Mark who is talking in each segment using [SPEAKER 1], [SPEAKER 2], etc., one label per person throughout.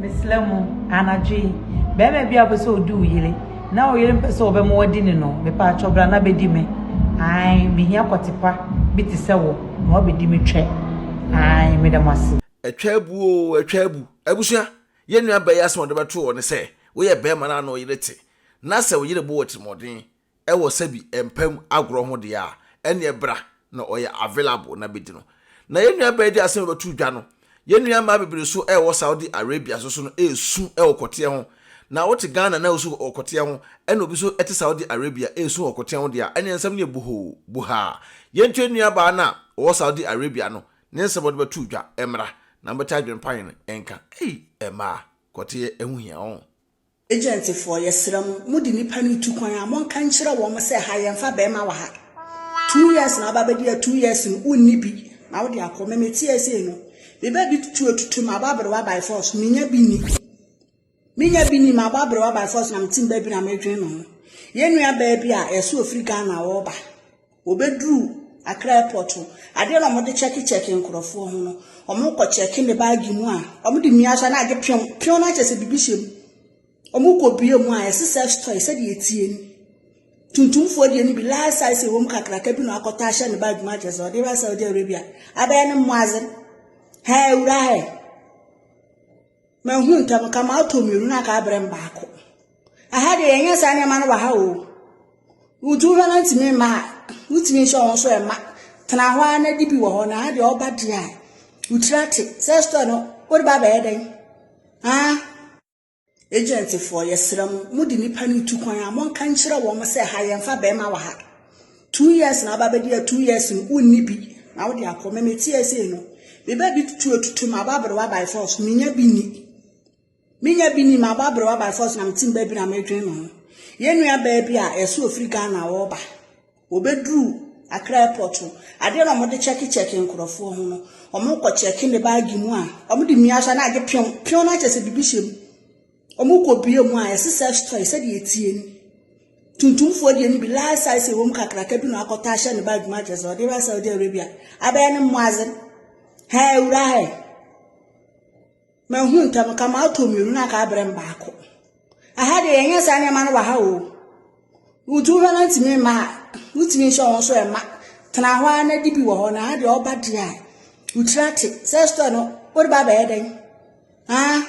[SPEAKER 1] Mesrɛ mo, anadwo yi, barima bi a ɔpɛ sɛ ɔdi wo yere, na wo yere mpɛ sɛ ɔbɛma wadi ne no, mepaakyɛw bra na bɛdi me. Ae, mehia kɔtepa bi te sɛ wo na woabɛdi me twɛ. Ae, meda mo ase. Atwa abu oo, atwa
[SPEAKER 2] abu. Abusua, yɛn nua baa yi asɛm a ɔde bɛto hɔ ne sɛ, woyɛ barima no a na wo yere te, na sɛ wo yere bɔ wo atirimuɔden, ɛwɔ sɛbi ɛmpa mu agorɔ ho deɛ a ɛneɛ bra na ɔyɛ available na bɛdi no na yɛn nua baa di asɛm a ɛbɛto dwa no yɛn nua mmaa bebree so ɛwɔ Saudi Arabia so so no ɛresu ɛwɔ kɔteɛ ho na wote Ghana na wosu wɔ kɔteɛ ho ɛna obi so ɛte Saudi Arabia ɛresu wɔ kɔteɛ ho deɛ a ɛneɛ nsɛm no yɛ bohoo bohaa yɛn ntua nua baa no a ɔwɔ Saudi Arabia no ne nsɛm a ɔde bɛto dwa ɛmmra na mobɛte adwene pa yɛn nka ei ɛmaa kɔteɛ ɛho hia ɔn. Agentfoɔ,
[SPEAKER 3] yɛsrɛ mo, mode nnipa no retu kwan a, monka nkyerɛ wɔn sɛ, ha yɛmfa barima wɔ ha. Two years na aba abɛdi a two years no wonni bi na wode akɔ. Me mete ase no, meba bi tutu atutu ma abɔ aberewa by force, menya bi ni. Menya bi ni ma abɔ aberewa by force na mete mba bi na medwene me ho. Yɛn nua baa bi a yɛsɛ ofiri Ghana a ɔreba. Wɔbɛduru Accra airport no, adeɛ na wɔde kyɛke kyɛke nkorɔfoɔ ho no, wɔkɔ kyɛke ne baage mu a, wɔde mia so a na agye pew, pew no akyɛ sɛ biribi hyɛ mu. Wɔkɔ bie mu a, ɛse sex toy sɛdeɛ ɛtie ni. Tuntumfoɔ deɛ no bi large size ɛwɔ mu kakraka bi na wakɔtɔ ahyɛ ne baage mu akyɛ sɛ ɔde ba Saudi Arabia. Abɛyɛ ne mmoazen. Hɛɛ wura hɛ. Mahu ntɛm, nka matɔ mmienu na nka abrɛ me baako. Aha deɛ yɛnyɛ saa nneɛma no wɔ ha o. Wotu hɔ no ntumi mma a, wotumi nhyɛ wɔn nso ɛma. Tena hɔ ara na di bi wɔ hɔ na aha deɛ ɔba deɛ a, wotiri ate. Sɛ store no, wode ba bɛyɛ dɛn? Ah, agentfoɔ, yɛsrɛ mo, mode nnipa no retu kwan a, monka nkyerɛ wɔn sɛ ha yɛmfa bɛrima wɔ ha. Two years na aba bɛdi a two years no wonni bi na wode akɔ me meteɛ sei no meba bi tutu atutu ma aba berewa by force menya bi ni menya bi ni ma aba berewa by force na metim baabi na medwen me ho yɛn nua baa bi a ɛso ofiri Ghana wɔba wɔbɛduru Accra airport no adeɛ na wɔde kyɛke kyɛke nkurɔfoɔ ho no wɔkɔ kyɛke ne baagi mu a wɔde mmea so na agye pew pew no akyɛ sɛ biribi hyɛ mu Wɔkɔbue mu a, ɛse sex toy sɛdeɛ ɛteɛ ni. Tuntumfoɔ deɛ no bi, large size ɛwɔ mu kakraka bi na wakɔtɔ ahyɛ ne bag mu akyerɛ sɛ ɔde ba Saudi Arabia. Abɛyɛ ne mmoadze. Hɛɛ awura hɛ. Mahu ntɛm ka matɔ mmienu na aka abrɛ me baako. Aha deɛ yɛnyɛ saa nneɛma no wɔ ha o. Wotu hɔ no ntumi mma a, wotumi nhyɛ wɔn nso ɛma. Tena hɔ ara na di bi wɔ hɔ na aha deɛ ɔba deɛ a, wotiri ate. Sex toy no, wode ba abɛyɛ dɛn? Ah.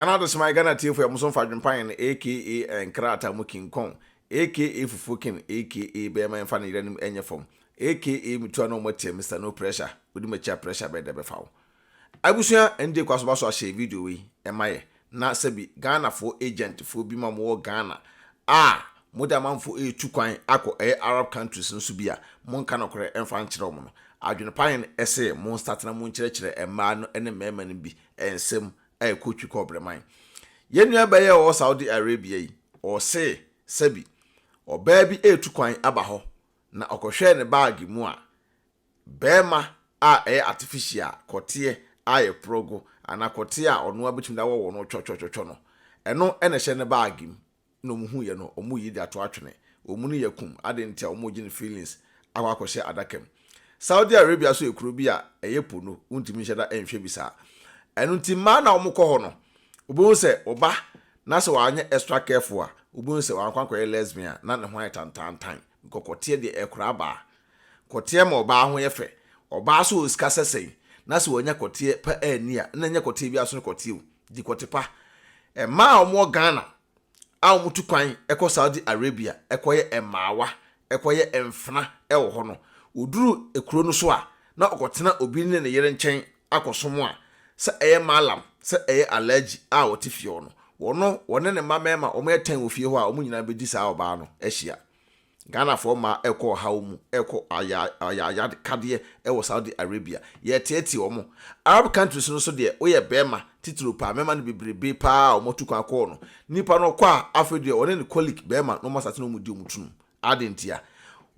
[SPEAKER 2] Ɛna do somaa Ghana tsiefo a hom so mmfa adwempa hɛn aka nkrataa mu kin kɔn aka fufuw kin aka bɛyɛ ma yɛmfa no yerɛn mu nyɛ fam aka mutua no ɔmɔ tsia Mister No Pressure wodi m'akyi a pressure bɛyɛ dɛ bɛfa wo. Abusua NJ Kwaso Baso ahyɛ video wei ma yɛ na sɛ bi Ghana foɔ agent foɔ bi ma mo wɔ Ghana a mo de amanfoɔ retu kwan akɔ ɛyɛ Arab countries no so bi a mo nka nokorɛ mfa nkyerɛ wɔn no adwene pa hɛn se mo nsatena mo nkyerɛkyerɛ mmaa no ne mmarima no bi nsam a ɛkɔ twi kɔ Breman. Yɛn nua bɛyɛ a ɔwɔ Saudi Arabia yi, ɔse sɛbi ɔbaa bi retu kwan aba hɔ na ɔkɔhwɛɛ ne baage mu a barima a ɛyɛ artificial kɔteɛ a yɛporɔ go anaa kɔteɛ a ɔnoa betumi de awɔ wɔ no twɔtwɔtwɔtwɔ no, ɛno na ɛhyɛ ne baage mu na ɔmo hu yɛ no ɔmo yi de ato atwene ɔmo ne yɛ kum aden nti a ɔmo gye no feelings akɔ akɔ hyɛ adaka mu Saudi Arabia nso yɛ kuro bi a ɛyɛ po no wontumi nhyɛ da nhwɛ bi saa ɛno nti mmaa no a ɔmo kɔ hɔ no ɔbɛhu sɛ ɔba na sɛ wanyɛ extra careful a ɔbɛhu sɛ wankɔ ankɔyɛ lesbian a na ne ho ayɛ tantaantan. Nkɔkɔteɛ deɛ ɛkora abaa. Kɔteɛ ma ɔbaa ho yɛ fɛ. Ɔbaa sɛ ɔwɔ sika sɛ sɛn, na sɛ wanya kɔteɛ pa anni a, na ɛnyɛ kɔteɛ biara so ne kɔteɛ o. Di kɔte pa. Mmaa a wɔwɔ Ghana a wɔtu kwan kɔ Saudi Arabia kɔyɛ mmaawa, kɔyɛ mfena wɔ hɔ no, wɔduru kuro no so a, na wɔkɔtena obi ne ne yere nkyɛn akɔsom a, sɛ ɛyɛ Mallam, sɛ ɛyɛ Alhaji a ɔte fie hɔ no, wɔno, wɔne ne mma mmarima a wɔyɛ tɛn wɔ fie hɔ a, wɔn nyinaa bɛdi saa ɔbaa no ahyia. Ghanafoɔ mmaa rekɔ ɔhaw mu, rekɔ aya, ayayakadeɛ wɔ Saudi Arabia. Yɛreteetee wɔn. Arab countries no nso deɛ, woyɛ barima, titiriw paa, mmarima no bebrebe paa a wɔatu kwan akɔ hɔ no, nipa no ɔkɔ a, afei deɛ ɔne ne colleague barima na wɔasate na wɔredi wɔn tunum. Adɛn ntia?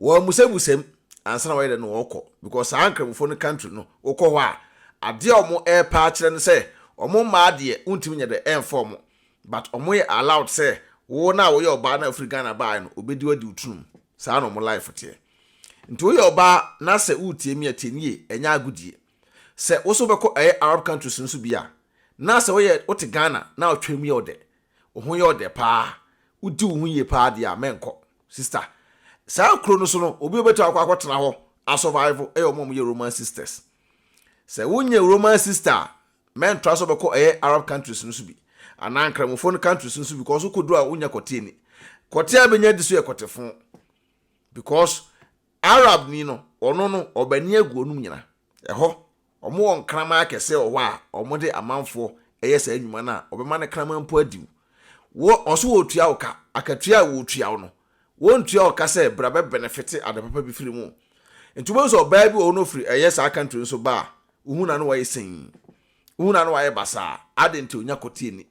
[SPEAKER 2] Wɔamusabusam ansa na wɔayɛ dɛ na wɔkɔ because saa Nkramofo no country no wokɔ hɔ a adeɛ a wɔn repɛ akyerɛ no sɛ wɔn mmaa deɛ wontumi nyɛ dɛ ɛmfa wɔn but wɔn yɛ allowed sɛ wo no a woyɛ ɔbaa na wofiri Ghana baeɛ no obɛdi wo adi wo tunum saa na wɔn life teɛ nti woyɛ ɔbaa na sɛ woretie me a tie no yie ɛnyɛ agodie sɛ wo nso wobɛkɔ ɛyɛ Arab countries no so bi a na sɛ woyɛ wote Ghana na wotwam yɛ wo dɛ Wo ho yɛ ɔdɛ paa. Wodi wo ho yie paa deɛ a, mɛnkɔ. Sister, Saa kuro no so no, obi a ɔbɛtumi akɔ akɔtena hɔ asɔvaivo yɛ wɔn a wɔyɛ Roman sisters. Sɛ wonyɛ Roman sister a, mɛntra sɛ wobɛkɔ ɛyɛ Arab countries no so bi, anaa Nkramofoɔ no countries no so bi, because wokɔduru a wonyɛ kɔteɛni. Kɔteɛ a bɛnya di so yɛ kɔtefo, because Arabni no, ɔno no, ɔbani agu wɔnom nyina. Ɛhɔ Wɔwɔ nkraman akɛseɛ wɔ hɔ a wɔde amanfoɔ yɛ saa nnwuma no a, wɔbɛma no kraman mpo adi wo. Wo, wɔn nso wɔretua wo ka. Akatua a wɔretua wo no, wɔntua wo ka sɛ bra bɛbenefete ade papa bi firi mu. Nti wobɛhu sɛ ɔbaa bi wɔ hɔ na ɔfiri ɛyɛ saa country no so ba a, wohu no a na wayɛ sinn. Wohu no a na wayɛ basaa. Adɛn nti? Ɔnnya kɔteɛ nni.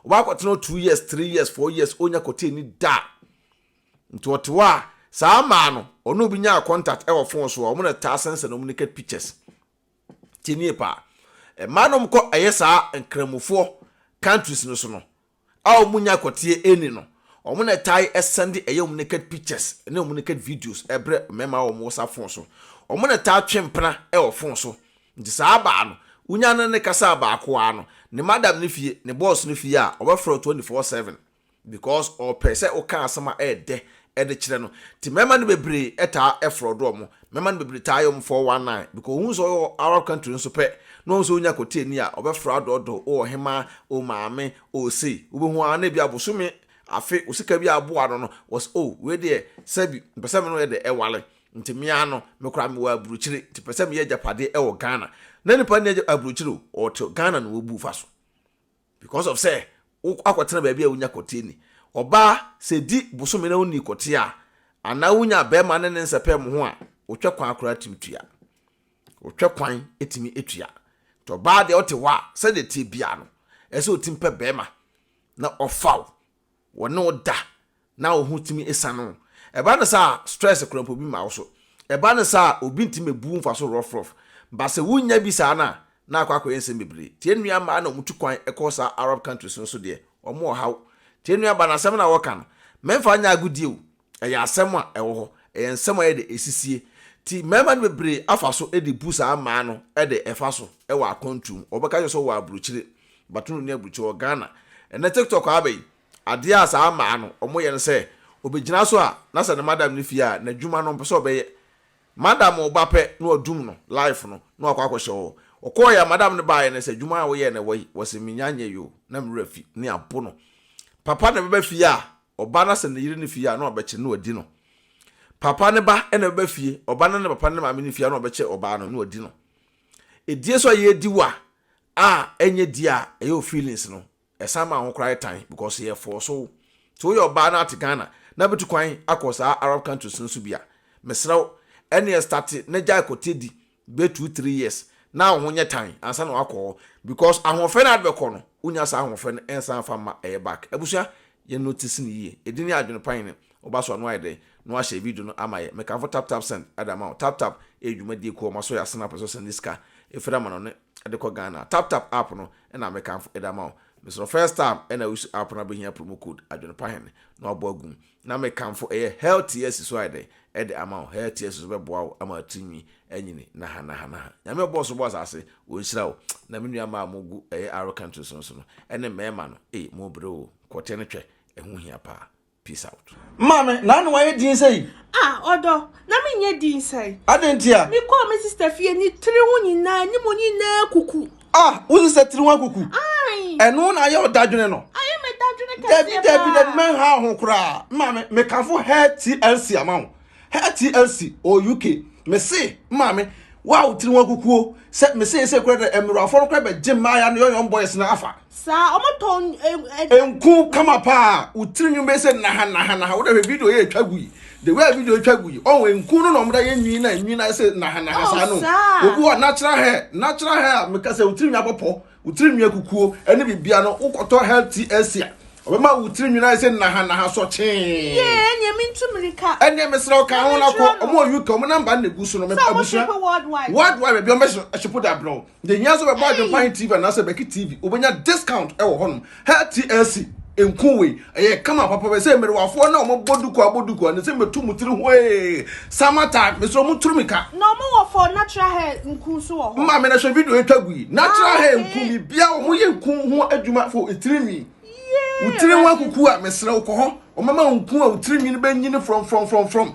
[SPEAKER 2] Ɔba akɔtena hɔ two years, three years, four years, ɔnnya kɔteɛ nni da. Nti ɔte hɔ a saa maa no ɔne obi nyaa contact wɔ phone so a ɔmo na taa sensɛn ɔmo naked pictures. Tie nie paa, mmaa na ɔmo kɔ yɛ saa nkramofoɔ countries no so no a ɔmo nya kɔteɛ nni no, ɔmo na tae send yɛ ɔmo naked pictures ne ɔmo naked videos brɛ mmarima a ɔmo wɔ saa phone so. Ɔmo na taa twe mpena wɔ phone so. Nti saa baa no wonya ne ne kasaa baako ara no ne madam no fie, ne boss no fie a ɔbɛfrɛ wo twenty four seven. Because ɔpɛ sɛ woka asɛm a ɛyɛ dɛ de kyerɛ no. Nti mmarima no bebree taa frɔdo wɔn. Mmarima no bebree taa yɛ wɔn four one nine because wɔhu sɛ ɔyɛ wɔ Arab country nso pɛ na wɔhu sɛ wonya kɔtee ni a, ɔbɛfrɛ adɔɔdɔɔ, o ɔhemaa, o maame, o sei. Wobɛhu ara na ebia bosome, afe, wo sika bi aboa no no, wɔse o wei deɛ sɛbi mepɛ sɛ me ne wo yɛ dɛ wale. Nti me ara no, me koraa mewɔ aburokyire nti mepɛ sɛ meyɛ agyapadeɛ wɔ Ghana. Na nipa nni aburokyire o, ɔte Ghana na wabu fa so. Because of sɛ wo akɔtena baabi a wonya kɔtee ni. Ɔbaa, sɛ di bosome na wonni kɔtee a, anaa wonya bɛɛma ne ne nsɛpɛɛ mo ho a, wotwɛ kwan koraa tumi tua. Wotwɛ kwan tumi tua. Nti ɔbaa deɛ ɔte hɔ a, sɛdeɛ ɛteɛ biaa no, ɛsɛ ɔtumi pɛ bɛɛma na ɔfa wo. wɔne wo da na wo ho tumi sa no. Ɛba no saa a, stress kora mpo bi mma wo so. Ɛba no saa a, obi ntumi mmebu wo mfaso rɔfrɔf. Ba sɛ wunnya bi saa no a, na akɔ akɔyɛ nsɛm bebree. Tie nnua mmaa na wɔtu kwan kɔ saa Arab countries no so deɛ, wɔn ɔhaw. Tie nnua ba no asɛm no a wɔka no. Memfa nyɛ agodie o, Ɛyɛ asɛm a ɛwɔ hɔ. Ɛyɛ nsɛm a ɛyɛ dɛ esisie. Nti mmarima no bebree afa so de bu saa mmaa no de ɛfa so wɔ akwantu mu. Wɔbɛka akyerɛ wo sɛ wɔwɔ aburokyire, but wonni aburokyire. Wɔ Ghana, ɛnnɛ TikTok aba yi, adeɛ a saa mmaa no wɔyɛ ne sɛ, ɔbɛgyina so a, na sɛ ne madam no fie a, n'adwuma no ɔmpɛ sɛ ɔbɛyɛ. Madam no ba pɛ na wadum no, life no, na wakɔ akɔhyɛ hɔ. Ɔkɔeɛ a, madam no baeɛ no sɛ, adwuma a woyɛɛ na ɛwɔ yi? Ɔse, mennya nyɛeɛ o, na me werɛ afi, ne abo no. Papa na ɛbɛba fie a, Ɔba no asan ne yere no fie a, na wɔabɛkyere na wɔadi no. Papa ne ba na ɛbɛba fie, ɔba no ne papa no ne maame no fie a, na wɔbɛkyere ɔbaa no na wɔadi no. Edie so a yɛredi wa a ɛnyɛ di a ɛyɛ wo feelings no, ɛsan ma ho koraa yɛ tan because yɛ force wo. Sɛ woyɛ ɔbaa na ate Ghana na bɛtu kwan akɔ saa Arab countries no so bi a, mesrɛ wo, ɛneɛ starte na gyae kɔtɛ di bɛyɛ two three years na wo ho nyɛ tan ansa na wakɔ hɔ because ahoɔfɛ no a wode bɛkɔ no wonya saa ahoɔfɛ no ɛnsan mfa mma ɛyɛ back abusua yɛ notice no yie ɛdi ne adwene pan no woba so a no ayɛ dɛn na wahyɛ video no ama yɛ mekamfo tap tap send ɛde ama wo tap tap ɛyɛ dwumadie kuo a wɔasɔ yɛ asene apɛ sɛ ɔsɛnde sika ɛfiri ama no ne ɛde kɔ Ghana tap tap app no ɛna mekamfo ɛde ama wo mesrɛ first time ɛna use app no abɛhia promo code adwene pan no na wabɔ agum Na me kanfo ɛyɛ healthiest so ayɛ dɛn ɛde ama wo healthiest so bɛboa wo ama tiri nwi anyini naha naha naha nyame ɔbɔɔ so bɔɔ asase ɔnhyira wo na me nua maa mo gu ɛyɛ arrow country so nso no ɛne mmɛɛma no ei mo bere oo kɔtɛ no twɛ ɛho hia paa peace out. Maame, na ano ayɛ
[SPEAKER 4] din sɛyi? Ah, ɔdɔ, na
[SPEAKER 5] menyɛ din sɛɛ. Adɛn ntia? Mekɔɔ
[SPEAKER 4] me sister
[SPEAKER 5] fie, ne tiri ho nyinaa, ne mu nyinaa kuku. Ah, wosi sɛ tiri
[SPEAKER 4] ho akuku. Ɛno na ayɛ ɔdadwene no. Ayɛ me dadwene
[SPEAKER 5] kɛseɛ paa. Dabi dabi dabi mɛnha ho
[SPEAKER 4] koraa. Maame, mekafo hair TLC ama wo. Hair TLC o UK. Mese, maame, wo a wo tiri ho akukuo sɛ mese ese kura dɛ mmerɛwafoɔ no kura bɛgye mmaa ya no yɔn yɔn boys no afa. Saa, ɔmo tɔn.
[SPEAKER 5] Enku
[SPEAKER 4] kama paa, wo tiri nwin bɛyɛ sɛ naha naha naha, wo dɛ hwɛ video yɛ etwa gu yi. the way a video twa gu yi ɔn nku no na ɔmo da yɛ nwin na nwin na ɛsɛ nahanaha oh, saa no obi wɔ natural hair natural hair a meka sɛ wotiri nwi abɔpɔ wotiri nwi akukuo ɛne bibia no wokɔtɔ hair ti ɛsia ɔbɛma wotiri nwi na ɛsɛ nahanaha sɔ kyee yɛɛ nea mi
[SPEAKER 5] ntu mirika ɛnea mesrɛ ɔka
[SPEAKER 4] ho na kɔ ɔmo wɔ uk ɔmo namba na egu so no mɛ abusua worldwide baabi ɔmo bɛ hyepo de abrɛ Nti nyɛ sɛ bɛbɔ adwempan TV anaasɛ bɛki TV, wobɛnya discount ɛwɔ hɔnom. Hair TLC, nku wei, ɛyɛ kama papa bɛ sɛ mmerewafoɔ na wɔn bɔ duku abɔ duku a, ne sɛ mɛtu mo tiri hwee, summer time, mesrɛ wɔn turu mi ka. Na wɔn wɔ for
[SPEAKER 5] natural hair nku nso wɔ hɔ. Mma me na hwɛ video etwa
[SPEAKER 4] gu yi, natural ah, hair nku mi bia wɔn yɛ nku ho adwuma for etiri nwi. Wotiri ho akuku a mesrɛ wokɔ hɔ, wɔn mɛma nku a wotiri nwi no bɛ nyini from from from from.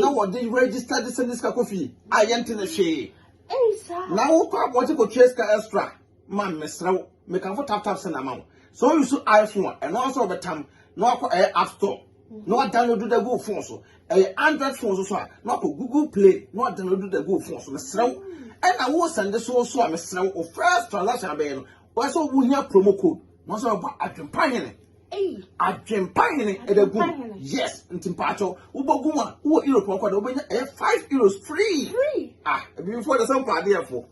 [SPEAKER 4] na wɔde register de sɛ ne sika kɔ fie a yɛnte ne hwee na
[SPEAKER 5] wokɔ abɔgye
[SPEAKER 4] kɔtua sika extra ma mesrɛ wo mekamfo taptap sɛ na ma wo sɛ woyi so iphone a ɛno nso wɔbɛtam na wakɔ ɛyɛ app store na wadownload da gu phone so ɛyɛ android phone so so a na wakɔ google play na wadownload da gu phone so mesrɛ wo ɛna wo sɛnde so so a mesrɛ wo first transaction abɛyɛ no wɔsɛ wohia promo code na wɔsɛ wɔbɔ adwempa hene Adwempa hene ɛbɛ gu yes nti mpaatɔ wobɛgu a wowɔ europe ɔkɔ de wobɛnya ɛyɛ five euros free ah ebifoɔ de sɛ mpa adeɛfoɔ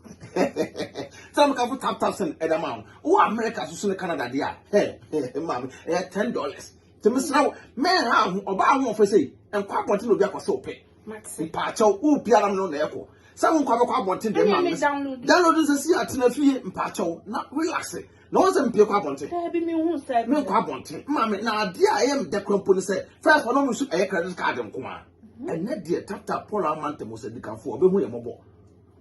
[SPEAKER 4] sɛ meka fo tap tap sɛn ɛda ma wo wowɔ america so so ne canada deɛ a hɛ hɛ maame ɛyɛ ten dollars nti mesra wo mɛnha ho ɔbaa ho ɔfɛ sei nkɔ abɔnten na obi akɔ sɛ ɔpɛ mpaatɔ wo biara no na ɛkɔ sɛ wo nkɔ abɛkɔ abɔnten deɛ maame download nsɛ si atena fie mpaatɔ na relax na wɔn sɛ mpie kɔ abɔnten menkɔ abɔnten maame na adeɛ a ɛyɛ meda kura mpo ne sɛ fɛs ɔno mu so ɛyɛ credit card nko a mhm. ɛnɛ deɛ taptap paul amanta mu sɛ dikanfoɔ ɔbɛhu yɛ mmɔbɔ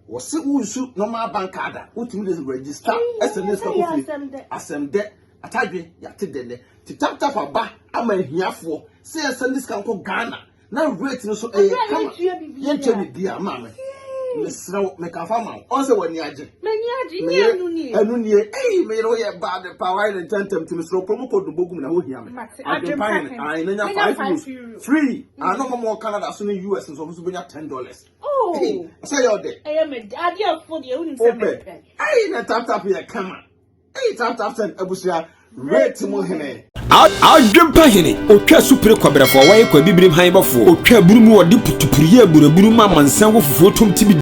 [SPEAKER 4] wɔse wonsu normal bank card a wotumi de register ɛsɛ ne sika kofie asɛm dɛ atadwe yɛate dɛ nɛ te taptap aba ama ahiafoɔ sɛ yɛsɛ ne sika nkɔ ghana na rate no so ɛyɛ kama yɛntua biribiara maa me mesrɛ wo meka fa ma wo ɔn sɛ w'ani agye ɛno nie ei meyere woyɛ bad pa wayɛ ne ntɛntɛm nti mesrɛ wopɛ mu kɔ dobo gum na wohia me adwempa hene ae na nya five euros free ano hɔ mɔ canada so ne us nso ɔmo so bɛnya ten dollars sɛ yɛ ɔdɛ wopɛ ei na taptap yɛ kama Eyi tap tap send abusua rate mu hene. Adwempa
[SPEAKER 6] hene, otwa asupere kɔbrɛfoɔ, wɔyɛ kɔ abibirim han bɔfoɔ, otwa aburu mu, ɔde putupuru yɛ aburaburu ma amansan wɔ fufuo tom tibidi.